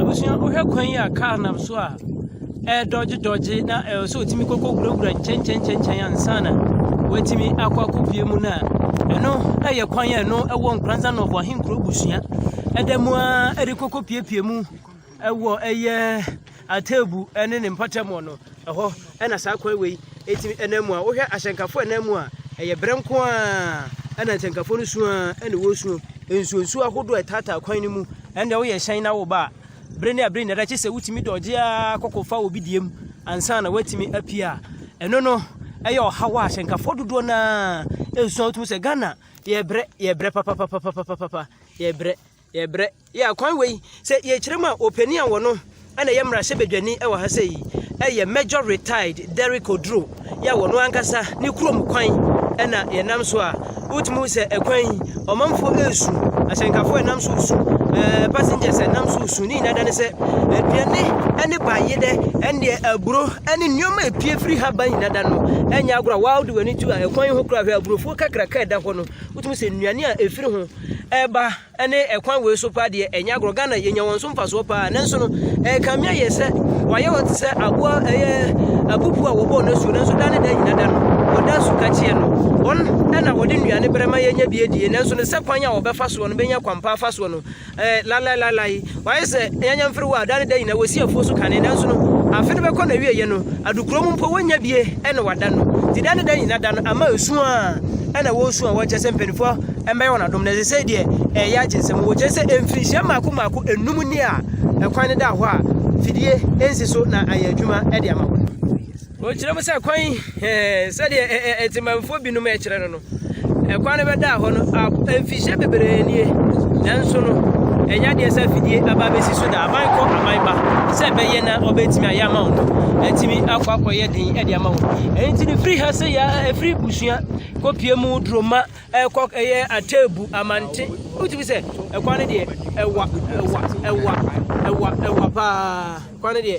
Abusua, wohwɛ kwan yi a kaa nam so a ɛredɔgye dɔgye na ɛwɔ sɛ otumi kɔkɔ wurawura nkyɛnkyɛnkyɛnkyɛn ansa na watumi akɔ akɔpue mu no a, ɛno yɛ kwan a ɛno ɛwɔ Nkoranza Nɔhoa Ahenkuro Abusua ɛda mu ara ɛde kɔkɔ puepue mu ɛwɔ ɛyɛ Atebu ne ne mpɔtamu no, ɛhɔ na saa kwan wei tumi nam mu a wohwɛ ahyɛnkafo a ɛnam mu a, ɛyɛ brɛ nko ara na ahyɛnkafo no suo ara na wɔresuo. Nsuonsuo ahodoɔ a ɛtaataa kwan no mu, ɛnna woyɛ hyɛn na woba a, bere ne abere nyinaa, gye sɛ wotumi dɔgye ara kɔkɔfa obi deɛ mu ansa na woatumi apue a. Ɛno no, ɛyɛ ɔhaw a ahyɛnkafo dodoɔ no ara ɛresuo a wotumi sɛ Ghana yɛbrɛ, yɛbrɛ papapapapapapa, yɛbrɛ. Yɛbrɛ. Yeah, kwan wei, sɛ yɛkyerɛ mu a, ɔpanin a wɔ no na ɛyɛ mmarahyɛbadwani wɔ ha sɛ yi, ɛyɛ Major Retired Derrick Oduro, yɛ wɔ no ankasa ne kurom kwan na yɛnam so a, wotumi hu sɛ ɛkwan yi, ɔmanfoɔ ɛresu, ahyɛnkafoɔ ɛnam so resu, ɛɛ passengers ɛnam so resu, ne nyinaa da ne sɛ, aduane ɛne baayɛ dɛ, ɛndeɛ aburo ɛne nneɛma ɛpie firi ha ba nyinaa da no, ɛnyɛ agorɔ a, wow de w'ani tu a ɛkwan yi ho kora hwɛ aburofoɔ kakraka ɛda hɔ no, wotumi sɛ nnuane a ɛfiri ho, ɛba ne ɛkwan wei so paa deɛ ɛnyɛ agorɔ ghana yɛnya wɔn so mfasoɔ paa nanso no ɛkame ayɛ sɛ wɔayɛ wɔn te sɛ aboa ɛyɛ abubu a wɔbɔɔ no asuo nanso da ne da nyina da no wɔda asu ka kyeɛ no wɔn ɛna wɔde nnuane berɛ ma yɛnya bi adie nanso no sɛ kwan a wɔbɛfa soɔ no bɛnya kwampa afa soɔ no ɛɛ lalae lalae Wɔayɛ sɛ anyanya mfiriwa a daa ne daa nyinaa wɔsi afuo so kane, nanso no, afe no bɛkɔ n'awieeɛ no, adukuro mu mpo wɔnnya bie na wɔada no. Nti daa ne daa nyinaa da no ama ɛsu a na wɔresu a wɔnkyerɛ sɛ mpanimfoɔ mmɛyɛ wɔn adom no, ɛsɛ sɛ deɛ ɛyɛ agye nsam. Wɔkyerɛ sɛ mfirinhyia mmaako mmaako nnum ni a ɛkwan no da hɔ a fidie nsi so na ayɛ adwuma de ama wɔn. Ɔkyerɛ mu sɛ, Kwan yi, sɛdeɛ Atemanfoɔ binom kyerɛ no no, ɛkwan no bɛdaa hɔ no mfihyɛ bebree nie, nanso no, ɛnyɛ adeɛ sɛ afidie aba abɛsi so da aman kɔ aman ba sɛ ɛbɛyɛ na ɔbɛtumi ayɛ ama wo no atumi akɔ akɔyɛ den de ama wɔn ɛnti no firi ha sɛ yɛ ɛfiri busua kɔpie mu duroma ɛkɔ ɛyɛ ateebu amante wotumi sɛ ɛkwan no deɛ ɛwa ɛwa ɛwa ɛwa ɛwa paa kwan no deɛ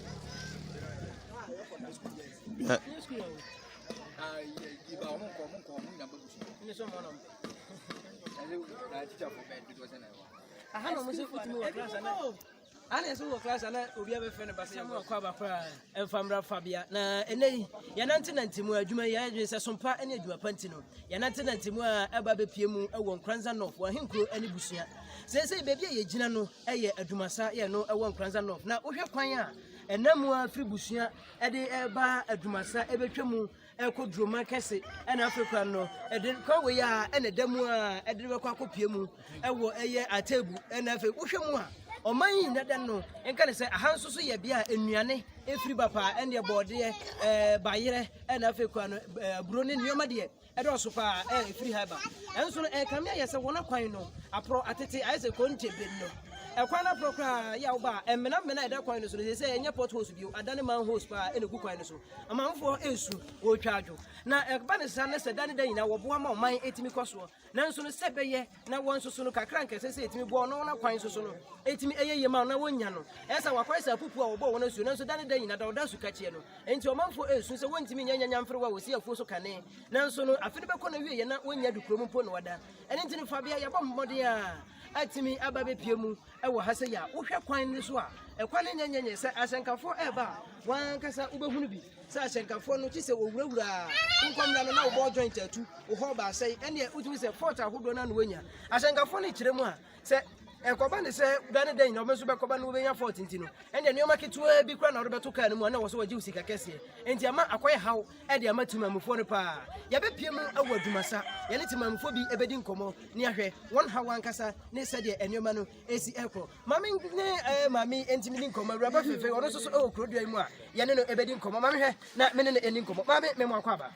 ana ɛsɛ wɔ class ana obi abɛfrɛ no basɛ yɛmu akɔ aba koraa ɛmfa mmra fa bea na ɛnɛ yi yɛnante nante mu adwuma yi adwene sɛ sompa ne adwuma pa nti no yɛnante nante mu a ɛba bɛpie mu ɛwɔ nkoransa nɔf wɔ ahenkuro ne busua Seesei baabi a yɛgyina no yɛ Adwumasa yɛ no wɔ Nkoranza North na wohwɛ kwan a ɛnam mu a firi Busua de ba Adwumasa ɛbɛtwa mu ɛkɔ Duroma kɛse ɛna afei kora no ɛde kwan wei a ɛna ɛda mu a ɛde bɛkɔ akɔpie mu ɛwɔ ɛyɛ Atebu ɛna afei wohwɛ mu a ɔman yi nyina da no nka ne sɛ aha nso so yɛ bea a nnuane ɛfiri ba paa ɛneɛ bɔɔdeɛ ɛɛ bayerɛ ɛna afei kora no aburo ne nneɛma deɛ Ɛdɔɔso paa a ɛfiri ha ba. Ɛnso no, ɛrekame ayɛ sɛ wɔn akwan no aporɔ atete ayɛ sɛ kontomire no. Ɛkwan no aporɔ koraa yɛ a woba a, mmenamena a ɛda kwan no so no, sɛ sɛ ɛnyɛ potholes bio, adane manholes paa na ɛgu kwan no so. Amanfoɔ resu, wɔretwa adwo. Na ɛba ne saa na sɛ da ne da nyinaa wɔboa ma ɔman tumi kɔ soɔ. Nanso no, sɛ ɛbɛyɛ na wɔn nso so no kakra nkɛse sɛ ɛtumi boa ɔno wɔn akwan nso so no ɛtumi ɛyɛ yie ma na wɔnya no ɛsɛ wakɔyɛ sɛ apupu a wɔbɔ wɔn asuo nanso da ne da nyina da wɔda asu kakyeɛ no enti ɔmanfoɔ ɛresu sɛ wɔntumi nyɛ nyanya mfere wɔ a wɔsi afuo so kane nanso no afe no bɛkɔ no wie yɛ na wɔnya du kurom mpo na wɔda ɛno nti no fa bia yɛbɔ mmɔden a atumi aba bɛpie mu ɛwɔ ha sɛ yɛ a wohwɛ kwan no so a ɛkwan no nyɛnyɛnyɛ sɛ asɛnkafoɔ ɛreba a wɔn ankasa wobɛhunu bi Sɛ ahyɛnkafoɔ no kye sɛ wɔwurawuraa wo nkɔmmra no na wo ball joint atu, wo hɔ baasa yi, ɛneɛ wotumi sɛ fault ahodoɔ no na woanya. Ahyɛnkafoɔ no kyerɛ mu a, sɛ ɛkɔba ne sɛ da ne da nyina wɔbɛnso bɛkɔba no wobɛnya fault nti no, ɛneɛ nneɛma ketewaa bi koraa na wode bɛto kaa no mu a na wɔ sɛ wɔgye wo sika kɛseɛ. Enti ama akɔyɛ haw de ama timamufoɔ no paa. Yɛbɛpie mu wɔ adwumasa, yɛne timamufoɔ bi bɛdi nkɔmmɔ ne ahwɛ wɔn haw ankasa ne sɛdeɛ nneɛma no ɛsi ɛkɔ. maame ne ɛɛ eh, maame ɛnti mi ni nkɔmɔ awuraba fɛfɛ ɔno nso so ɛwɔ kuro dua yi mu a yɛne no ɛbɛdi nkɔmɔ maame hwɛ na me ne no ɛni nkɔmɔ maame mɛmo akɔ aba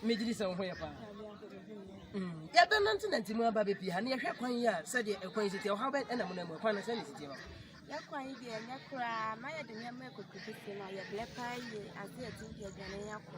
megyiri sɛ wo ho yɛ paa mm. yɛbɛ nante nante mu aba bɛpii ha ne yɛhwɛ kwan yi a sɛdeɛ ɛkwan yi sitiɛ ɔhaw bɛ ɛna mu na mu ɛkwan no sɛ ne sitiɛ hɔ yɛkwan yi deɛ ɛnyɛ koraa na yɛde nneɛma ɛkɔkɔkɔsi no yɛbrɛ paa yie ade ɛdi yɛdwane yɛakɔ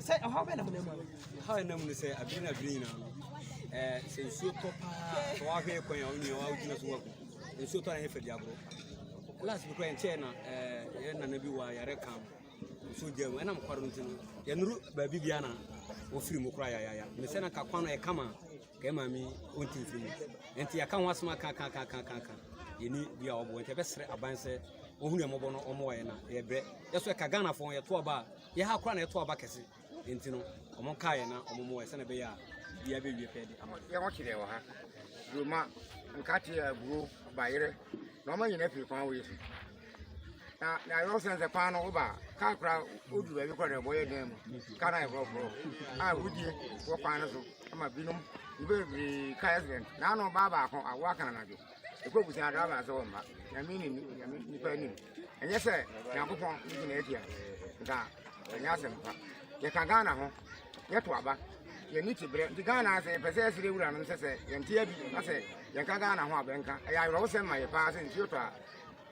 Sɛ ɔhaw bɛn na mo nam mu ano? Ɔhaw a ɛnam no sɛ abiri na abiri nyinaa no ɛɛ sɛ nsuo tɔ paa sɛ wahwɛ kwan a ɔnyɛ wa gyina so waku nsuo tɔ na yɛ fɛ di agorɔ last bi kura yɛn kyɛɛ na ɛɛ yɛ nana bi wɔ ayare kan nsuo gya mu ɛnam kɔrɔ nti no yɛnuru baabi bia na wɔfiri mu kura yayaya ne sɛ na ka kwan no yɛ kama ka yɛ maame ɔnti mfiri mu nti yɛaka ho asoma kakakakakaka yɛni bi a wɔbɔ nti yɛbɛsrɛ aban sɛ wɔhunu yɛn mmɔbɔ no wɔn wɔ yɛn na yɛbrɛ yɛsɔ ɛka ghanafoɔ yɛto aba a Yɛ ha koraa na ɛto aba kɛse, enti no, wɔkaa yɛn na wɔmoae sɛnea ɛbɛyɛ a biribiara bɛwie pɛɛ de ama yɛn. Yɛn ho kyerɛɛ wɔ ha. Duruma, nkate, aburow, bayerɛ, na wɔma nyinaa firi kwan wɔ Yesu. Na na ayɛ ɔsɛn sɛ kwan no woba kaa koraa woduru baabi koraa na ɛbɔ yɛ dan mu. Kaa no ayɛ forɔforɔ a wodie wɔ kwan no so ama binom. Nnipa bebree kaa accident. Na ano baa baako awoa kan anadwo. ɛkɔ abusua aka aba sɛ wɔ mma nyame ne nyame nipa anim ɛnyɛ sɛ nyankopɔn ne gyina atia nka ɛnyɛ asɛm pa yɛka ghana ho yɛto aba yɛne ti berɛ nti ghana sɛ yɛpɛ sɛ yɛsere wura nom sɛ sɛ yɛnteɛ bi na sɛ yɛka ghana ho a bɛnka ɛyɛ awerɛwo sɛm ma yɛ paa sɛ nsuo tɔ a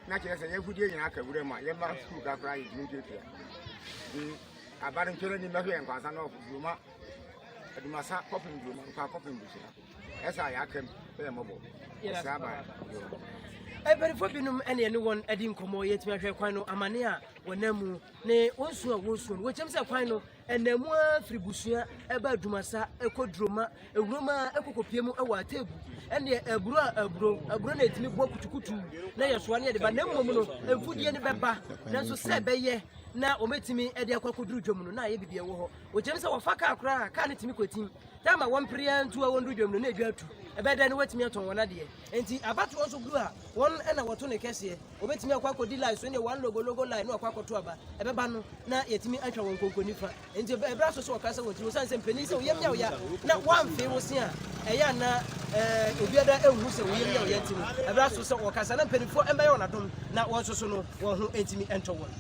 na kyerɛ sɛ yɛagudeɛ nyinaa ka wura mu a yɛma sukuu ka koraa yɛtumi ntuatua aba no ntwerɛ ni mɛhwɛ yɛ nkwansa na ɔfo duruma adumasa kɔpem duruma nkwa kɔpem busua ɛsa yɛ akam yɛ mɔbɔ ɛsɛ aba mpanimfoɔ binom ɛne ɛne wɔn adi nkɔmmɔ yɛtumi ahwɛ kwan no amane a wɔnam mu ne wɔn su a wɔsuo no wɔkyɛm sɛ kwan no ɛnam mu ara firi busua ɛba adumasa ɛkɔ duroma ewuroma ɛkɔkɔpie mu ɛwɔ ateebu ɛne aburo a aburo aburo na ɛtumi bɔ kutukutu na yɛsoa ne yɛde ba na mmom no mfudie no bɛba nanso sɛ ɛbɛyɛ na wɔbɛtumi ɛde akɔ akɔduru dwam no na ayɛ biribi ɛwɔ hɔ wɔkyɛm sɛ wɔfa kaa koraa kaa no tumi kɔtim Dɛ ama wɔn mpere ara ntu a wɔndu dwam no na edwa atu. Ɛbɛyɛ dɛn na wɔatumi atɔn wɔn adeɛ? Enti abatoɔ nso gu a wɔn na wɔto ne kɛseɛ. Wɔbɛtumi akɔ akɔdi line so ne wɔn logologo line na wɔakɔ akɔto aba. Ɛbɛba no na yɛatumi atwa wɔn konkonifa. Enti ɛb- ɛberɛ aso sɛ wɔkasa wɔn tiri osiane sɛ mpanin sɛ woyam yawoya na woamfee wo se a ɛyɛ a na eh, obiara nhu sɛ woyam yawoya nti no ɛberɛ aso sɛ wɔkasa na mpanimfoɔ mmɛyɛ wɔn adom na wɔnsoso no. wɔn ho ntumi ntɔ wɔn.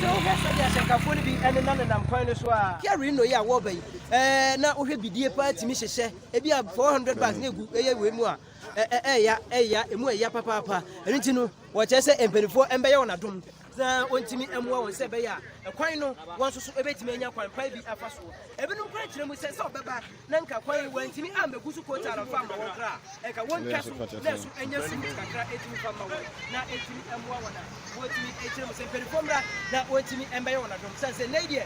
sɛ wohwɛ sɛdeɛ ahyɛnkafoɔ no bi ɛnena nenam kwan no so a piare no yi a wɔba yi ɛɛ na wohwɛ bidie paa tumi hyehyɛ ebi a 400 bags na egu ɛyɛ wei mu a ɛɛ ɛɛya ɛɛya emu ɛɛya papaapa ɛno nti no wɔkyerɛ sɛ mpanimfoɔ ɛmbɛyɛ wɔn adom na ɔntumi mmoa wɔn sɛ ɛbɛyɛ a kwan no wɔn nso so ɛbɛtumi anya kwan pa bi afa soɔ ebinom kora kyerɛ mu sɛ sɛ ɔbɛba na nka kwan wɔntumi ammɛgu so kotaa no fa mma wɔn kora a ɛka wɔntwa so na ɛso anya sumi kakra ɛtumi fa mma wɔn na ɛtumi mmoa wɔn a wɔtumi kyerɛ mu sɛ mpanimfoɔ mmra na wɔntumi mbɛyɛ wɔn adom sane sɛ nnɛ deɛ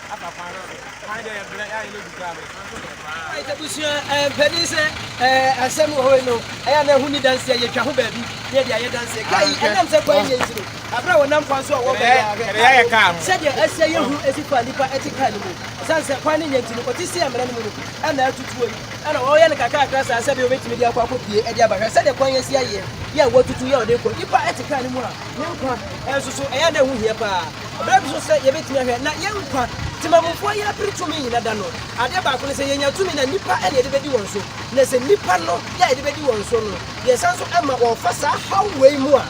afa kwan no so. Kwan deɛ yɛbrɛ, yɛ a yɛn adu koraa no, kwan so brɛ paa. Right, abusua, eh, mpanin sɛ, eh, asɛm wɔ hɔ yi no, ɛyɛ a na ɛho ni danseɛ, yɛtwa ho baabi, na yɛde ayɛ danseɛ. Kaa yi, ɛnam sɛ kwan yɛ nti no, aberɛ a wɔnam kwan so a wɔba yi a, hwɛ, kaa no, sɛdeɛ ɛsɛ yɛ hu ɛsi kɔ a nnipa ɛte kaa no mu, ɛsiane sɛ kwan no nyɛ nti no, ɔte si amena no mu no, ɛna atutuo yi, ɛna wɔyɛ no kakrakra saa sɛdeɛ wɔbɛtumi de akɔ akɔ pue de aba, hwɛ sɛdeɛ kwan yi asi ayɛ, yɛ a wɔatutu, yɛ a wɔde rekɔ, nnipa ɛte kaa no mu a, ne nkwa nso so, ɛyɛ a na ɛho hia paa. Bere bi so sɛ yebetumi ahwɛ na yɛn nkwa temamufoɔ yi apere tumi nyina da no, adeɛ baako ne sɛ yɛnya tumi no a nnipa na yɛde bɛdi wɔn so. Na sɛ nnipa no yɛ a yɛde bɛdi wɔn so no, yɛsan nso ma wɔfa saa haw wei mu a,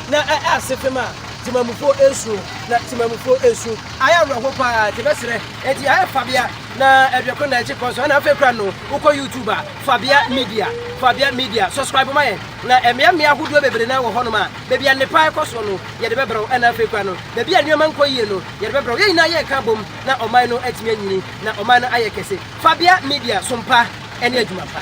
na ɛyɛ asefem a temamufoɔ nsuro. Na temamufoɔ nsu ayɛ awerɛhoɔ pa ara te bɛserɛ. Enti ayɛ Fabia na aduokron na ɛkye kɔ so. Ɛna afei koraa no, wokɔ YouTube a, Fabia Media, Fabia Media, subscribe ma yɛn. Na mmea mmea ahodoɔ bebree no ara wɔ hɔnom a baabi a nnepa rekɔ so no, yɛde bɛbrɛ wo, ɛna afei koraa no, baabi a nneɛma nkɔ yie no, yɛde bɛbrɛ wo. Yɛn nyinaa yɛreka abom na ɔman no atumi anyini, na ɔman no ayɛ kɛse. Fabia Media, som pa ne adwuma pa.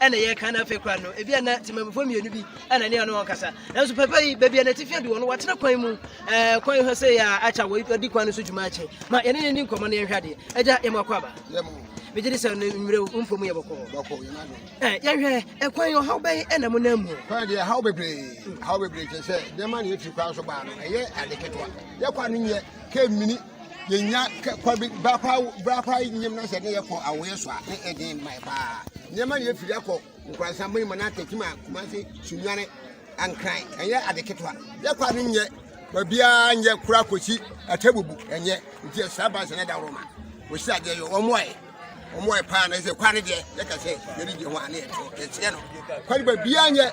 ɛna yɛ kan afei kora no ebi ana temamufoɔ mmienu bi ɛna ne ɔne wɔn kasa nanso papa yi baabi a n'atifi adu wɔn wɔatena kwan mu ɛɛ kwan hɔ sɛ yɛ akya wɔ di kwan no so dwuma akyi ma yɛne ne ni nkɔmɔ ne yɛn hwɛ adeɛ ɛgya yɛn mu akɔ aba megye di sɛ ne mmerɛ wo mfo mu yɛ bɔkɔɔ yɛhwɛ ɛkwan ɔhaw bɛn ɛna mo nan mu kwan deɛ haw bebree haw bebree kyɛ sɛ nneɛma ne yɛfiri kwan so baa no ɛyɛ ade ketewa yɛkɔ ano nyɛ kɛ mmini yɛnya kwa bi berɛ paa berɛ paa nyam na sɛ ne yɛkɔ awoeɛ so a ne ɛden mmae paa nneɛma ne yɛfiri akɔ nkorasan bɛyi ma no atakyim a kumase sunwane ankran ɛnyɛ ade ketewa yɛkɔ a no nyɛ baabiaa nyɛ kora kɔsi atabubu ɛnyɛ nti ɛsra bansɛ no da woroma wɔsi adeɛ yɛ wɔmmoaɛ wɔn a ɛpaa no sɛ kwa no deɛ yɛka sɛ yɛde gye ho a ne yɛto yɛkyerɛ no kwa no baabiaa nyɛ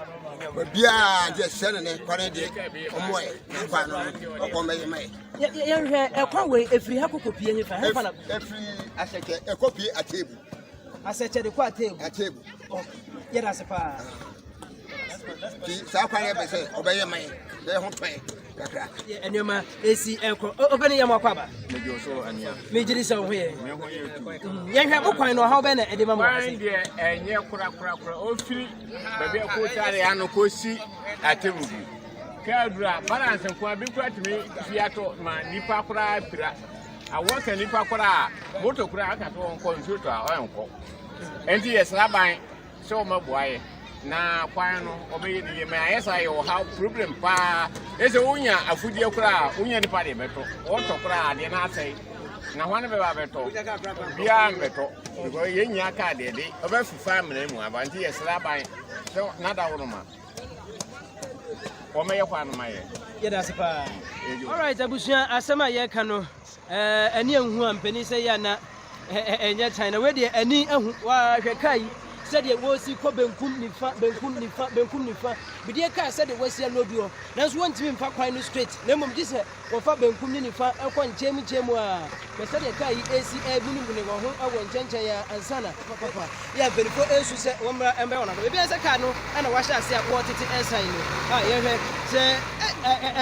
baabiaa gye sɛ no ne kwa no deɛ wɔn ɛ ne kwa no ɔkɔ mɛyɛ ma yɛ yɛhwɛ ɛkwa wei ɛfiri ha kɔkɔ pie hefa hefa na ɛfiri asɛkyɛ ɛkɔ pie ateebu asɛkyɛ de kɔ ateebu ateebu yɛda se paa nti saa kwan yɛ pɛ sɛ ɔbɛyɛ ma yɛ sɛ ho tɔ yɛ kakra nneɛma ɛsi ɛkɔ ɔpɛne yɛ mɔkɔ aba megyere sɛ wo ho yɛ yɛhwɛ mo kwan no ɔhaw bɛ na ɛde ma mo deɛ ɛnyɛ korakorakora ɔfiri baabi ɛkɔtare ano kɔsi atɛmu bi kɛadura balance nkoa bi kora tumi fi atɔ ma nnipa koraa pira awɔ sɛ nnipa koraa moto koraa aka sɛ ɔnkɔ nsuo tɔ a ɔnkɔ ɛnti yɛsra ban sɛ wɔbɛboa yɛ na kwan no wɔbɛyɛ no yie ma ayɛ saa yɛ ɔha problem paa ɛsɛ wonya afodeɛ koraa wonya nipa deɛ bɛtɔ wɔtɔ koraa adeɛ no asɛe na hwane bɛba bɛtɔ biaa mbɛtɔ because yɛnya kaa deɛ de ɔbɛfifa mmena mu aba nti yɛsrɛ aban sɛ nada wo no ma wɔmɛyɛ kwan no ma yɛ yɛda se paa alright abusua asɛm a yɛka no Ɛɛ ani anhu a mpanin sɛ yɛ na ɛnyɛ tan na wei deɛ ani ahu waa hwɛ kaa yi sɛdeɛ wɔsi kɔ benkum nifa benkum nifa benkum nifa bideɛ kaa sɛdeɛ wɔsi ano duɔ nanso wɔntumi mfa kwan no straight na mmom gye sɛ wɔfa benkum ne nifa ɛkɔ nkyɛn mu nkyɛn mu a hwɛ sɛdeɛ kaa yi ɛsi ɛbunibuni wɔn ho ɛwɔ nkyɛnkyɛn a ansa na papapa yɛ mpanimfoɔ ɛsu sɛ wɔn mmra ɛmbɛ wɔn ano ebi ɛsɛ kaa no ɛna wahyɛ ase a wɔtete ɛsan no a yɛhwɛ sɛ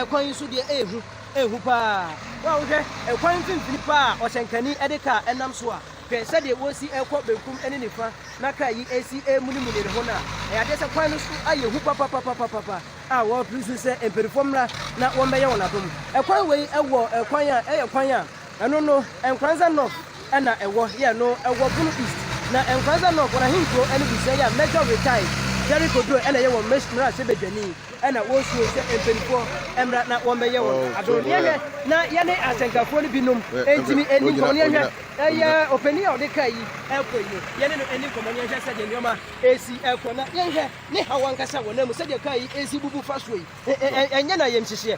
ɛkwan yi so deɛ ɛhu Ehu paa. Wo a wohwɛ ɛkwan mfimfini paa a ɔhyɛnkani de kaa nam so a, hwɛ sɛdeɛ wɔresi rekɔ benkum ne nifa na kaa yi resi remunimuni ne ho no a, ɛyɛ adeɛ sɛ kwan no so ayɛ hu papapapapapa a wɔrepere so sɛ mpanimfoɔ mmra na wɔmmɛyɛ wɔn adom. Ɛkwan wei wɔ kwan a ɛyɛ kwan a Ɛno no, Nkoranza North na ɛwɔ, yɛ no wɔ Bono East. Na Nkoranza North, wɔn ahenkuro ne busua yi a Major Retired Derrick Oduro na ɛyɛ wɔn mmarahyɛbadwani na wɔsuo sɛ mpaninfoɔ mmra na wɔmmɛyɛ wɔn adom. Neɛ nɛ na yɛne asɛnkafoɔ no binom ntumi nni nkɔmmɔ no yɛnhwɛ, ɛyɛ ɔpanin a ɔde kaa yi rekɔ yi no, yɛne no nni nkɔmmɔ na yɛnhwɛ sɛdeɛ nneɛma resi kɔ na yɛnhwɛ ne haw ankasa wɔ n'amu sɛdeɛ kaa yi resi bubu fasuo yi, ɛnyɛ no ayamhyehyeɛ.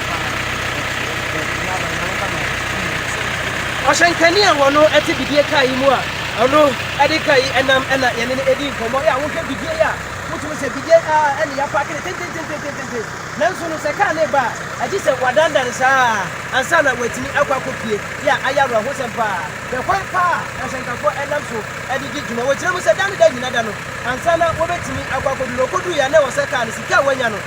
Ɔhyɛnkani a wɔno ɛte bidie kaa yi mu a ɔno ɛde kaa yi ɛnam ɛna yɛne no ɛdi nkɔmmɔ yɛ a wohwɛ bidie yi a wotumi sɛ bidie a ɛne yɛ apaake no tentententententen nanso no sɛ kaa ne ba a ɛgye sɛ wadandan saa ansa na watumi akɔ akɔ pie yɛ a ayɛ awerɛhosɛm paa hwɛ kwan paa a ahyɛnkafoɔ ɛnam so ɛde di dwuma wɔkyerɛ mu sɛ da ne da nyina da no ansa na wɔbɛtumi akɔ akɔdu na ɔkɔduu yɛ a na ɛwɔ sɛ kaa no sika a wanya no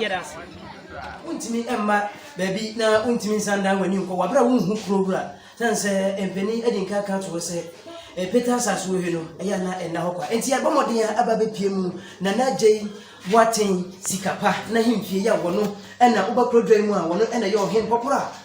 yɛda ase. Wontumi mma baabi na wontumi nsan dan w'ani nkɔ wabere a wonhu kuro wura sane sɛ mpanin adi nka ka to hɔ sɛ ɛpeta asase wɔ he no ɛyɛ ana ɛnna hɔ kwa enti yɛbɔ mmɔden a aba bɛpie mu na na gyei boaten sika pa na hempie yɛ wɔno ɛna woba kuro dwa mu a wɔno ɛna yɛ ɔhen pɔporɔ a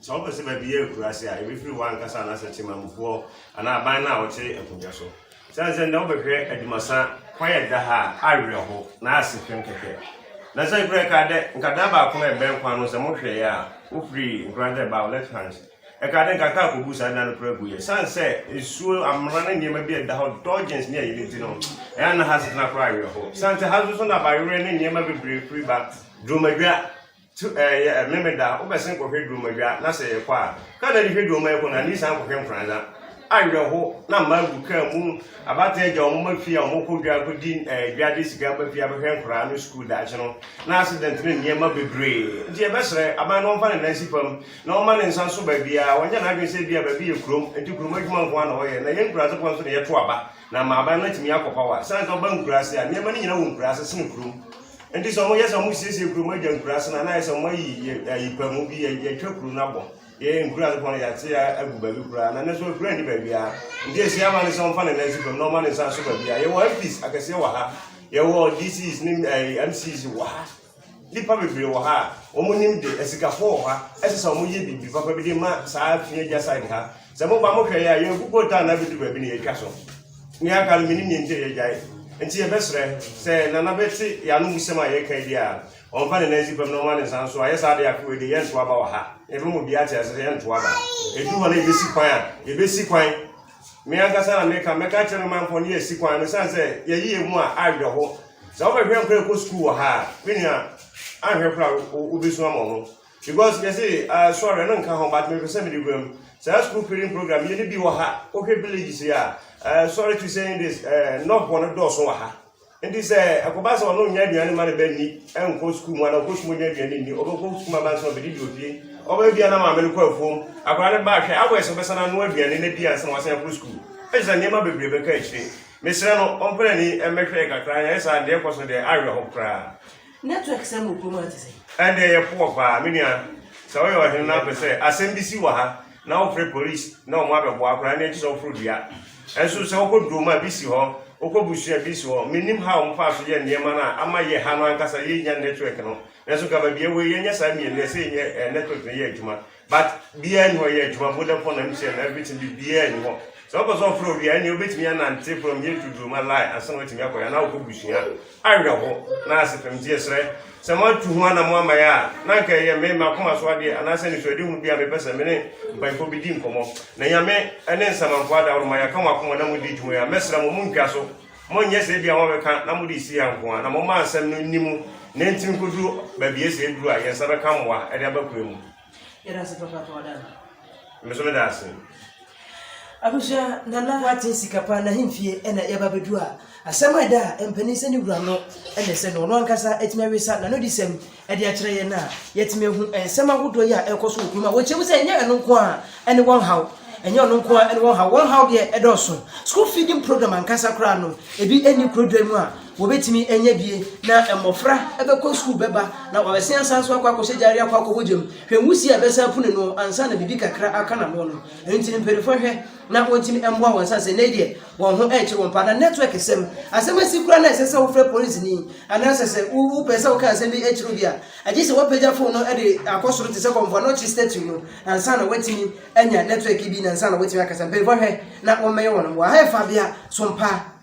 Sɛ wopɛ sɛ baabi yɛ akuraase a, ebefiri wo ankasa anaasɛ temammufoɔ anaa aban no a wɔte nkonnwa so. Esiane sɛ nnɛ wobɛhwɛ adwumasa kwan a ɛda ha a, awerɛhow na ayɛ sekpem kɛkɛ. Na sɛ kura ɛkaa dɛ, nka daa baako no a ɛbɛn kwan no, sɛ mohwɛeɛ a, wofiri nkoranse a ɛbaa wo left hand, ɛkaa dɛ nka kaa kɔbuu saa dan no koraa guiɛ. Esiane sɛ nsuo, amena ne nneɛma bi a ɛda hɔ, dodgings ne ayi no nti no, ɛyɛ a na ha asetena koraa awerɛhow. Esiane sɛ ha nso so na abayewerɛ ne nneɛma bebree firi ba, duromadwa, Tu eh yɛ eh Memeda a wobɛsen kɔhwɛ Duromadwa na sɛ yɛkɔ a Kar na de hwɛ Duroma yɛkɔ na ani san kɔhwɛ Mfranza Awerɛho na mma agu kar mu Abata agya wɔn ma fie a wɔn kɔ dwa kɔdi eh dwa de sika aba fie abɛhwɛ nkoraa no sukuu daakye no Na accident ne nneɛma bebree nti yɛbɛsrɛ aban no wɔmfa ne nan si fam na wɔmma ne nsa nso baabiara Ɔnyɛ n'adwene sɛ ebia baabi yɛ kurom nti kurom adwuma nko ara na ɔyɛ Na yɛn nkuraase foɔ nso na yɛto aba Na mmaaban no atumi akɔpaw a, sane sɛ wɔba nkuraase a, nneɛma no nyina wɔ nkuraase sene kurom. Nti sɛ wɔyɛ sɛ wɔsiesie kurom agya nkuraase no a, na ayɛ sɛ wɔayi ayipamu bi, yɛatwa kuro no abɔ. Yɛyɛ nkuraase pɔ no yɛate agu baabi koraa, na ɛnɛ so akura ni baabiara. Nti ɛsi ama no sɛ wɔmfa ne nan si fam na wɔma ne nsa so baabiara. Yɛwɔ MPs akɛseɛ wɔ ha, yɛwɔ DCs ne MCs wɔ ha. Nnipa bebree wɔ ha a wɔnim de asikafo wɔ ha ɛsɛ sɛ wɔyɛ biribi papa bi de ma saa fi agya side ha sɛ moba mohwɛ yɛ a yɛn kukuo taa na bɛdu baabi na yɛtwa so ne aka no menim yɛ nti yɛgyae nti yɛbɛsrɛ sɛ nana bɛte yɛano mu sɛm a yɛka bi a ɔmfa ne nan si pam na ɔma ne nsa nso a yɛ saa de akoe de yɛntoa ba wɔ ha yɛbɛma obiara te ase sɛ yɛntoa ba ɛdu hɔ na yɛbɛsi kwan a yɛbɛsi kwan Me ankasa na meka, mɛka akyerɛ me manfoɔ ne yɛasi kwan no sane sɛ yɛyi yɛ mu a awerɛho. Sɛ wobɛhwɛ nkora ɛkɔ sukuu wɔ ha a, me nua, ahwɛ kora wobɛsu ama ho. Because yɛse uh, sɔre ɛno nka ho but mepɛ sɛ mede wura mu. Saa school feeding program yɛne bi wɔ ha, wohwɛ villages yi a, uh, sorry to say this, uh, nɔfoɔ no dɔɔso wɔ ha. Enti sɛ ɛkɔba sɛ ɔno nnya aduane ma ne ba nni, nkɔ sukuu mu anaa ɔkɔ sukuu nya aduane nni, ɔbɛkɔ sukuu ma bansa ɔbɛdidi ofie. Ɔbɛyɛ bia na maame no kɔ afuom. Akwadaa no ba ahwɛ, awɔ ɛsɛ ɔbɛsan ano aduane no adi ansa na wasan akɔ sukuu. Ɛkyerɛ sɛ nneɛma bebree bɛka akyire. Mesrɛ no ɔmpɛ n'ani mmɛhwɛ yɛ kakra, anyɛ saa deɛ ɛkɔ so deɛ awerɛ ho koraa. Network sɛm wɔ kurom ha te sɛ. Ɛndeɛ yɛ poor paa, me nua. Sɛ woyɛ ɔhene na apɛ sɛ asɛm bi si wɔ ha. na wɔfrɛ police na wɔn abɛboa koraa na ɛkyɛ sɛ wɔforo dua ɛnso sɛ wɔkɔ durom a bi si hɔ wɔkɔ busua bi si hɔ menim ha wɔn fa so yɛ nneɛma no a ama yɛ ha no ankasa yɛnya network no nanso ka baabi ɛwɔ yɛnyɛ saa mmienu ɛsɛ yɛnyɛ eh, network no yɛ adwuma but biara ni hɔ yɛ adwuma vodafone na mtn na everything bi biara ni hɔ sɛ wɔkɔ sɛ wɔforo wia ɛne wobɛtumi anante from yɛ to durom alae ansa na wɔatumi akɔyɛ na wɔkɔ busua awerɛho na asepem nti yɛsrɛ sɛ moatu ho anamo ama yɛ a na anka ɛyɛ me makoma so adeɛ anaasɛ nisuadehu bi a mepɛ sɛ me ne mpanyimfoɔ bi di nkɔmmɔ na nyame ne nsamanfoɔ adaworo ma yɛaka mo akoma na modi dwuma yi a mɛsrɛ mo montwa so monyɛ sɛ bi a wɔbɛka na mode si yɛ nko a na momma asɛm no nni mu na ɛntimi nkɔduru baabi ɛsɛ ɛduru a yɛn nsa bɛka mmoa ɛde aba kwan mu Yɛda ase papa pa ɔda no. Me so meda ase. Abusua nana wate sika pa na hemfie ɛna yɛba bɛdu a asɛm a ɛda a mpanin sɛ ne wura no ɛna sɛ no ɔno ankasa atumi awesa na no di sɛm ɛde akyerɛ yɛn a yɛtumi ahu nsɛm ahodoɔ yi a ɛkɔ so wɔ kurom a wɔkyɛ mu sɛ ɛnyɛ ɛno nko a ɛne wɔn haw ɛnyɛ ɔno nko a ɛne wɔn haw wɔn haw deɛ ɛdɔɔso school feeding program ankasa koraa no ebi ɛni kurodwa mu a Wɔbɛtumi anya bie na mmɔfra bɛkɔ sukuu bɛba na wɔabɛsen asan so akɔ akɔhyɛ gyaeɛ akɔ akɔbɔ gya mu. Hwɛ nwusie a ɛbɛsan apu n'ano ansa na biribi kakra aka n'ano no. Ɛno nti no mpaninfoɔ nhwɛ na wɔntumi mmoa wɔn sane sɛ nnɛ yi deɛ wɔn ho rekyere wɔn paa. Na network sɛm, asɛm asi koraa na ɛsɛ sɛ wofrɛ polisini anaasɛ sɛ wopɛ sɛ woka asɛm bi kyerɛ obi a, agye sɛ wapagya fon no de akɔ soro te sɛ kɔmfoa na ɔkye statue no ansa na watumi anya network bi na ansa na watumi akasa. Mpaninfoɔ nhwɛ na wɔmmɛyɛ wɔn mmoa. Aha yɛ fabea som paa.